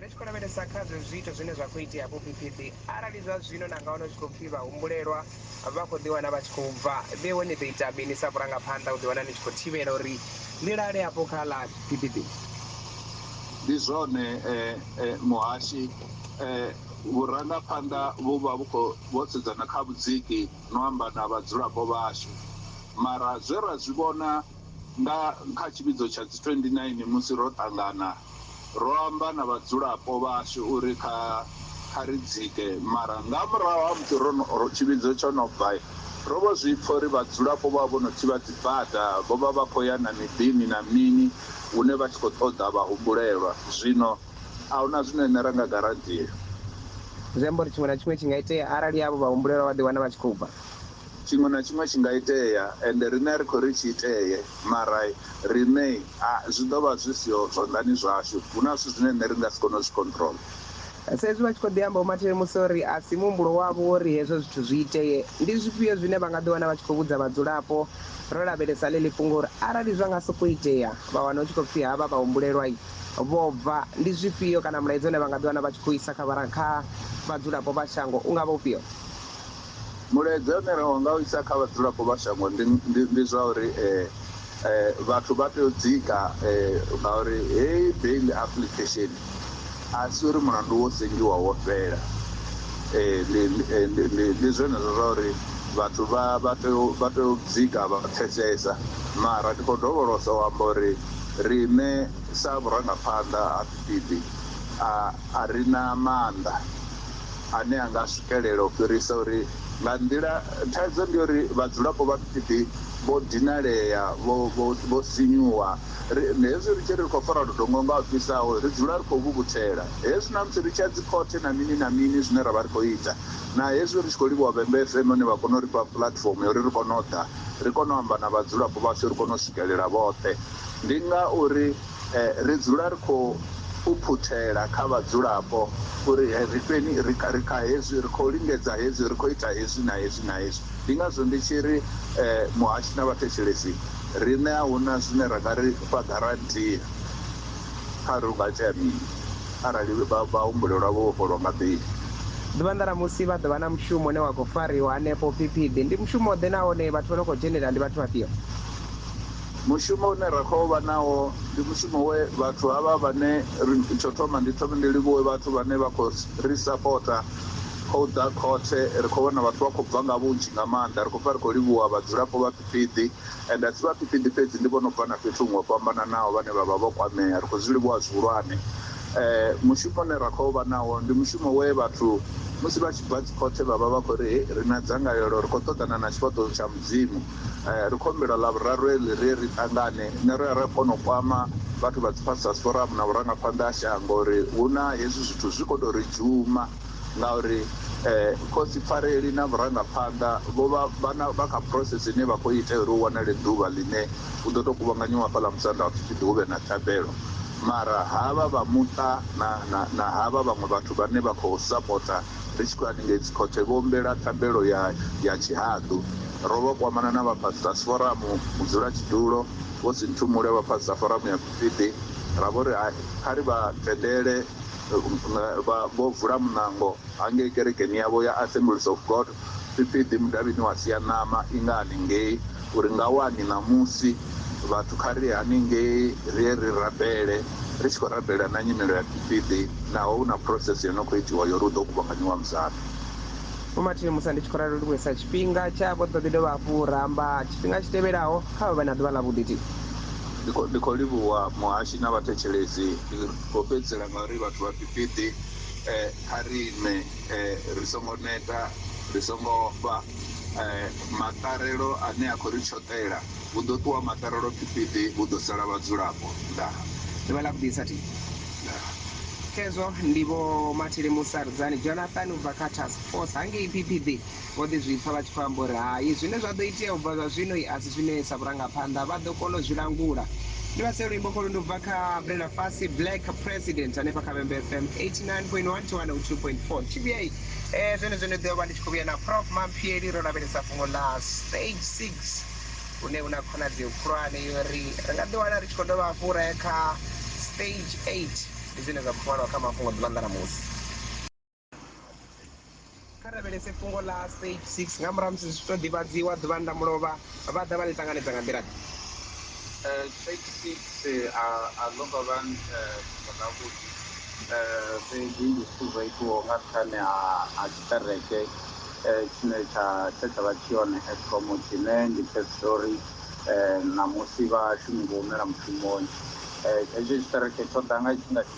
Ri tshi khou lavhelesa kha zwezwi zwiito zwine zwa khou itea vhuphiphiphi, arali zwa zwino na nga wana hu tshi khou pfi vhahumbulelwa vha khou ḓiwana vha tshi khou bva, vheiwe ni ḓo ita mini sa vhurangaphanḓa u ḓiwana ni tshi khou thivhela uri ḽi lale afho kha ḽa phiphiphi? Ndi zwone muhashi, vhurangaphanḓa vhu vha vhu khou vho sedzana kha vhudziki no amba na vhadzulapo vhashu. Mara zwe ra zwi vhona nga kha tshivhidzo tsha dzi 29 musi ro ṱangana Ro amba na vhadzulapo vhashu uri kha kha ri dzike, mara nga murahu ha musi ro no ro tshivhidzo tsho no bva, ro vho zwi pfa uri vhadzulapo vho vha vho no thivha dzibada, vho vha vha khou ya na miḓini na mini hune vha tshi khou ṱoḓa vhahumbulelwa. Zwino a hu na zwine riṋe ra nga garandia. Zwi amba uri tshiṅwe na tshiṅwe tshi nga itea arali avho vhahumbulelwa vha ḓiwana vha tshi khou bva. Tshiṅwe na tshiṅwe tshi nga itea, ende riṋe a ri khou ri tshi itee, mara riṋe a, zwi ḓo vha zwi siho zwanḓani zwashu. Hu na zwithu zwine riṋe ri nga si kone u zwi controller. Sa izwi vha tshi khou ḓi amba, Vho Martin musi o ri a si muhumbulo wavho wo ri hezwo zwithu zwi itee, ndi zwifhio zwine vha nga ḓi wana vha tshi khou vhudza vhadzulapo, ro lavhelesa ḽeḽi fhungo uri arali zwa nga sokou itea, vha wana hu tshi khou pfi havha vhahumbulelwa-i, vho bva, ndi zwifhio kana mulaedza une vha nga ḓi wana vha tshi khou u isa kha, kha vhadzulapo vha shango u nga vha ufhio? Mulaedza une ra nga u isa kha vhadzulapo vha shango ndi ndi ndi zwa uri vhathu vha tea u dzika ngauri heyi bail application a si uri mulandu wo sengiwa wo fhela. Ndi ndi ndi ndi zwenezwo zwa uri vhathu vha vha tea u vha tea u dzika vha pfesesa mara ndi khou dovholosa u amba uri riṋe sa vhurangaphanḓa ha Phiphiḓi a a ri na maanḓa ane a nga swikelela u fhirisa uri nga nḓila, thaidzo ndi ya uri vhadzulapo vha Phiphiḓi vho dinalea, vho, vho, vho sinyuwa. Ri, hezwi ri tshi ri ri khou fara ludongo nga ho fhisaho, ri dzula ri khou vhuvhuthela. Hezwi na musi ri tshi ya dzikhothe na mini na mini zwine ra vha ri khou ita, na hezwi ri tshi khou livhuwa Vhembe FM hune vha kona u ri fha puḽatifomo ya uri ri kone u ḓa, ri kone u amba na vhadzulapo vhashu, ri kone u swikelela vhoṱhe, ndi nga uri. Ri dzula ri khou phuphutela kha vhadzulapo uri ri fheni, ri kha, ri kha hezwi, ri khou lingedza hezwi, ri khou ita hezwi na hezwi na hezwi. Ndi ngazwo ndi tshi ri muhashi na vhathetshelesi riṋe a hu na zwine ra nga ri fha garantia kha uri hu nga itea mini arali vhahumbuleli vha vho vhofholwa nga beli. Ḓuvha nḓalamusi vha ḓo vha na mushumo une wa khou fariwa hanefho Phiphiḓi. Ndi mushumo-ḓe nahone vhathu vha no khou dzhenela ndi vhathu vhafhio? Mushumo une ra khou vha nawo ndi mushumo we vhathu havha vhane ri, tsho thoma ndi thome ndi livhuwe vhathu vhane vha khou ri sapota kha u ḓa khothe. Ri khou vhona vhathu vha khou bva nga vhunzhi nga maanḓa. Ri khou pfa ri khou livhuwa vhadzulapo vha Phiphiḓi, ende a si vha Phiphiḓi fhedzi, ndi vho no bva na fhethu huṅwe ho fhambananaho vhane vha vha vho kwamea. Ri khou zwi livhuwa zwihulwane. Mushumo une ra khou vha nawo ndi mushumo we vhathu musi vha tshi bva dzikhothe vha vha vha khou ri, Hei, ri na dzangalelo, ri khou ṱoḓana na tshifhaṱuwo tsha Mudzimu. Ri khou humbela Ḽavhuraru heḽi ri ye ri ṱangane na ri ra kona u kwama vhathu vha dzi Pastors Forum na vhurangaphanḓa ha shango uri hu na hezwi zwithu zwi khou tou ri dzhuma ngauri Khosi Pfareli na vhurangaphanḓa vho vha vha na vha kha process ine vha khou itea uri hu wanale ḓuvha ḽine hu ḓo tou kuvhanganyiwa hafhaḽa Musanda ha pfhi ḓi hu vhe na thabelo mara havha vha muṱa na na na havha vhaṅwe vhathu vhane vha khou sapota ri tshi khou ya haningei Dzikhothe vho humbela thabelo ya ya tshihaḓu. Ro vha kwamana na vha Pastors Forum, mudzulatshidulo, Vho Sinthumule vha Pastor Forum ya Phiphiḓi, ra vho ri hai, kha ri vha tendele vha vho vula muṋango hangei kerekeni yavho ya Assemblies of God Phiphiḓi mudavhini wa Sianama i nga haningei Uri nga wani ṋamusi, vhathu kha ri ye haningei ri ye ri rabele, ri tshi khou rabela na nyimelo ya Gifiḓi, naho hu na process yo no khou itiwa ya uri hu ḓo kuvhanganyiwa muzambi. Vho Martin Musa, Ndi tshi khou ralo ndi khou isa tshifhinga tsha vho ḓo ḓi dovha hafhu ra amba tshifhinga tshi tevhelaho. Kha vha vhe na ḓuvha ḽavhuḓi. Thi. Ndi khou ndi khou livhuwa muhashi na vhathetshelesi. Ndi khou fhedzisela nga uri vhathu vha Gifiḓi kha ri ime. ri songo neta, ri songo ofha. Maṱarelo ane a khou ri tshoṱela, hu ḓo ṱuwa maṱarelo phiphiḓi, hu ḓo sala vhadzulapo. Ndaa. Ḓuvha ḽa vhugidi sa thi. Ndaa. Khezwo ndi Vho Mathele Musardzani Jonathan u bva kha Task Force hangei phiphiḓi. Vho ḓi zwi pfa vha tshi khou amba uri, Hai, zwine zwa ḓo itea u bva zwa zwino i a si zwine sa vhurangaphanḓa vha ḓo kona u zwi langula. Ni vhasee luimbo kholu ndi u bva kha Brenda Fassie, Black President, hanefha kha Vhembe FM 89.1 to 102.4. Tshivhiyai e, zwenezwo ni ḓo vha ni tshi khou vhuya na Prof Mamphieli ro lavhelesa fhungo ḽa Stage Six, hune hu na khonadzeo khulwane ya uri ri nga ḓiwana ri tshi khou dovha hafhu ra ya kha Stage Eight. Ndi zwine zwa khou ṅwalwa kha Mafhungo ḓuvha ḽa ṋamusi. Kha lavhelese fhungo ḽa Stage 6. Nga murahu ha musi zwi tshi tou ḓivhadziwa ḓuvhani ḽa mulovha, vha ḓa vha ḽi ṱanganedza nga nḓila-ḓe? Stage 6, A a ḽo ngo vha fhungo ḽavhuḓi, fhedzi ndi zwithu zwo itiwaho nga nṱhani ha ha tshiṱereke tshine tsha tshe tsha vha tshi hone Eskom tshine ndi tshe tshiṱori ṋamusi vhashumi vho humela mushumoni. Hetshi tshiṱereke tsho ḓa nga tshifhinga tshi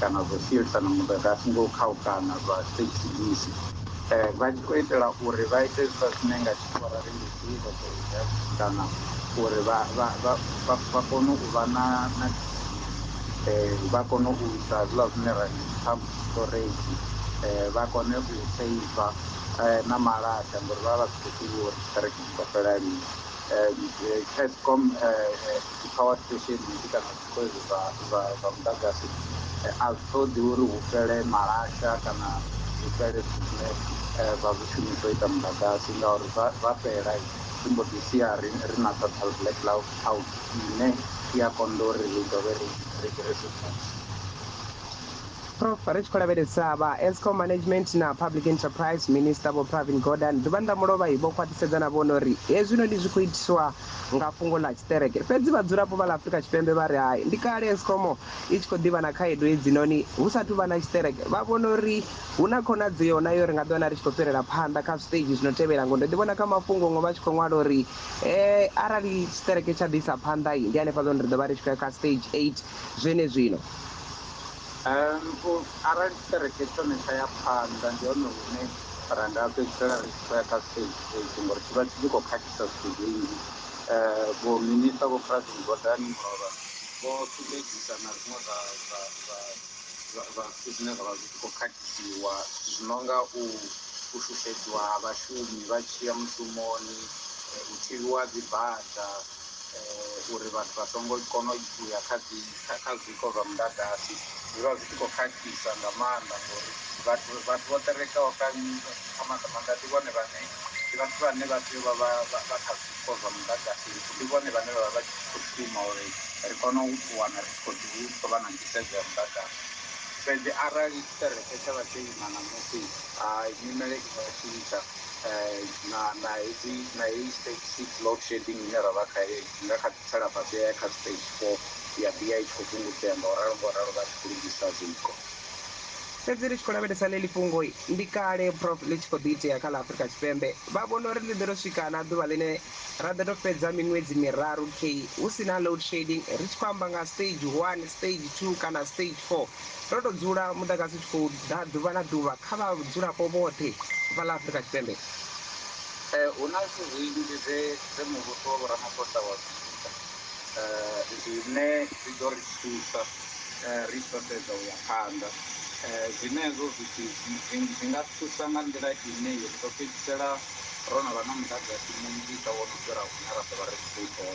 kana zwo sielisana muḓagasi ngo u khaukana zwa state police vha tshi khou itela uri vha ite hezwiḽa zwine nga tshikhuwa ra ri ndi civil unrest kana uri vha vha vha vha vha kone u vha na na vha kone u isa hezwiḽa zwine ra ndi dzi pump storage vha kone u seiva na malaṱa ngori vha vha si khou ḓivha uri tshiṱiriki tshi ḓo fhela lini Eskom dzi power station nnzhi kana Kwezwi zwa, zwa, zwa muḓagasi, a zwi ṱoḓi uri hu fhele malasha kana hu fhele zwithu zwine zwa zwi shumisa u ita muḓagasi, ngauri zwa, zwa fhela, ri mbo ḓi sia ri, ri na total blackout ine i a konḓa uri ri dovhe ri, ri, ri zwi vuse. Prof, ri tshi khou lavhelesa, vha Eskom Management na Public Enterprise Minister Vho Pravin Gordhan ḓuvha ḽa mulovha vho khwaṱhisedza na vhone uri hezwinoni zwi khou itiswa nga fhungo ḽa tshiṱereke. Fhedzi vhadzulapo vha ḽa Afrika Tshipembe vha ri hai. Ndi kale Eskom i tshi khou ḓi vha na khaedu hedzinoni hu sa athu vha na tshiṱereke. Vha vhona uri hu na khonadzeo na yo ri nga ḓiwana ri tshi khou fhirela phanḓa kha zwiṱeidzhi zwi no tevhela ngori ndo ḓi vhona kha mafhungo huṅwe vha tshi khou ṅwala uri arali tshiṱereke tsha ḓi isa phanḓa ndi hanefhaḽa hune ri ḓo vha ri tshi khou ya kha stage eight zwenezwino. Arali tshiṱereke tshone tsha ya phanḓa ndi hone hune ra nga fhedzisela ri tshi khou ya kha stage eight ngori tshi vha tshi tshi khou khakhisa zwithu zwinzhi um vho minister vho Pravin Gordhan Mulovha vho sumbedzisa na zwiṅwe zwa zwa zwa zwa zwa zwithu zwine zwa vha zwi tshi khou khakhisiwa zwithu zwi no nga u u shushedziwa ha vhashumi vha tshi ya mushumoni um u thivhiwa ha dzibada. uri vhathu vha songo kona u ya kha dzi kha zwiko zwa muḓagasi zwi vha zwi tshi khou khakhisa nga maanḓa ngori vhathu vhathu vho ṱerekaho kha kha maanḓa maanḓa ndi vhone vhane ndi vhathu vhane vha tea u vha vha vha vha kha zwiko zwa muḓagasi ndi vhone vhane vha vha vha tshi khou shuma uri ri kone u wana ri khou ḓi khou vha na nḓisedzo ya muḓagasi fhedzi arali tshiṱereke tsha vha tsho ima ṋamusi ha nyimele i nga tshintsha. na na hedzi na heyi stage six load shedding ine ra vha khayo i nga kha ḓi tsela fhasi ya ya kha stage four ya ḓi ya i tshi khou fhungudzea nga u ralo nga u ralo vha tshi khou lugisa zwiko. Fhedzi ri tshi khou lavhelesa ḽeḽi fhungo, ndi kale Prof ḽi tshi khou ḓi itea kha ḽa Afrika Tshipembe. Vha vhona uri ḽi ḓo tou swika na ḓuvha ḽine ra ḓo tou fhedza miṅwedzi miraru key hu si na load shedding, ri tshi khou amba nga stage one, stage two kana stage four. Ro tou dzula muḓagasi u tshi khou ḓa ḓuvha na ḓuvha kha vhadzulapo vhoṱhe vha ḽa Afrika Tshipembe. Ee, hu na zwithu zwinzhi zwe zwe muvhuso wa Vho Ramaphosa wa zwi ita zwine zwi ḓo ri thusa ri tshi ḓo sedza u ya phanḓa. Zwenezwo zwithu zwi nga thusa nga nḓila ine ri ḓo fhedzisela ro no vha na muḓagasi munzhisa wo no fhira hune ra ḓo vha ri tshi khou ṱoḓa.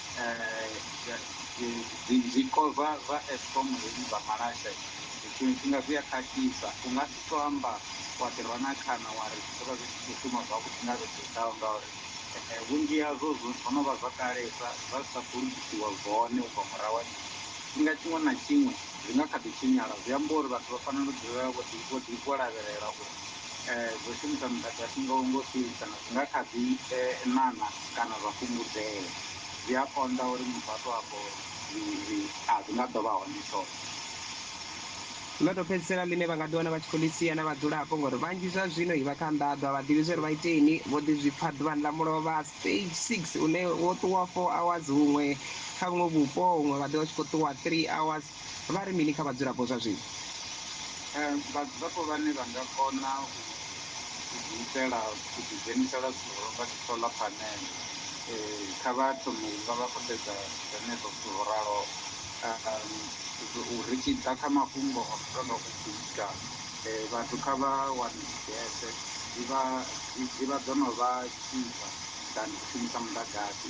zwiko zwa zwa Eskom hezwi zwa malasha tshiṅwe tshifhinga zwi a khakhisa. U nga si to amba wa ḓi rwa na khana wa ri zwi ḓo vha zwi tshi khou shuma zwavhuḓi nga vhege i ḓaho ngauri vhunzhi hazwo zwo zwo no vha zwa kalesa zwa zwi sa khou lugisiwa zwone u bva murahu ha mini. Tshifhinga tshiṅwe na tshiṅwe zwi nga kha ḓi tshinyala zwi amba uri vhathu vha fanela u dzulela vho ḓi vho ḓi vho lavhelela uri. Zwo shumisa muḓagasi nga u ngo fhisa zwi nga kha ḓi ṋaṋa kana zwa fhungudzea. Zwi a konḓa uri muthu a tou amba uri a zwi nga ḓo vha hone tshoṱhe. Ḽo tou fhedzisela ḽine vha nga ḓiwana vha tshi khou ḽi sia na vhadzulapo ngori vhanzhi zwa zwino vha kha nḓaḓo, a vha ḓivhi zwa uri vha iteni. Vho ḓi zwi pfa ḓuvhani ḽa mulovha, stage six, une wo ṱuwa four hours huṅwe kha vhuṅwe vhupo, huṅwe vha ḓo vha tshi khou ṱuwa three hours. Vha ri mini kha vhadzulapo zwa zwino? Vhadzulapo vhane vha nga kona u ḓiitela u ḓidzhenisa lwa suhoro nga dzi solar panel kha vha thome u vha vha khou sedza zwenezwo zwithu zwo raloho. Ri tshi ḓa kha mafhungo a no tonga u bika vhathu kha vha wane dzi gese dzi vha dzi vha dzo no vha cheaper than u shumisa muḓagasi.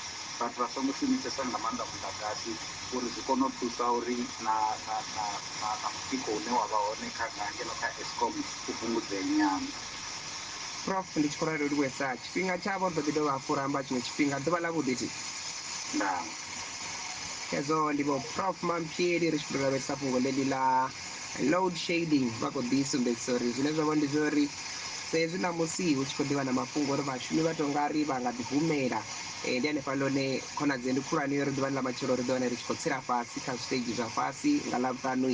vhathu vha songo shumisesa nga maanḓa muḓagasi uri zwi kone u thusa uri na na na na na mutsiko une wa vha hone kha nga ngeno kha Eskom u fhungudzee nyana. Prof, Ndi tshi khou ralo livhuhesa tshifhinga tshavho, ri ḓo ḓi dovha hafhu ra amba tshiṅwe tshifhinga. Ḓuvha ḽavhuḓi Ti. Ndaa. Khezwo, ndi Vho Prof Mamphieli ri tshi khou tou lavhelesa fhungo ḽeḽi ḽa. Load shedding vha khou ḓi sumbedzisa uri zwine zwa vha ndi zwa uri sa hezwi ṋamusi hu tshi khou ḓivha na mafhungo uri vhashumi vha tou nga ri vha nga ḓi humela eh, ndi hanefha lone khonadzeo ndi khulwane uri ḓuvhani ḽa matshelo ri ḓi wana ri tshi khou tsela fhasi kha zwiṱegi zwa fhasi nga ḽavhuṱanu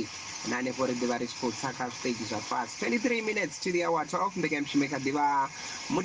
na hanefho ri ḓivha ri tshi khou tsa kha zwiṱegi zwa fhasi 23 minutes to the hour 12 mbekanyamushumo i kha ḓivha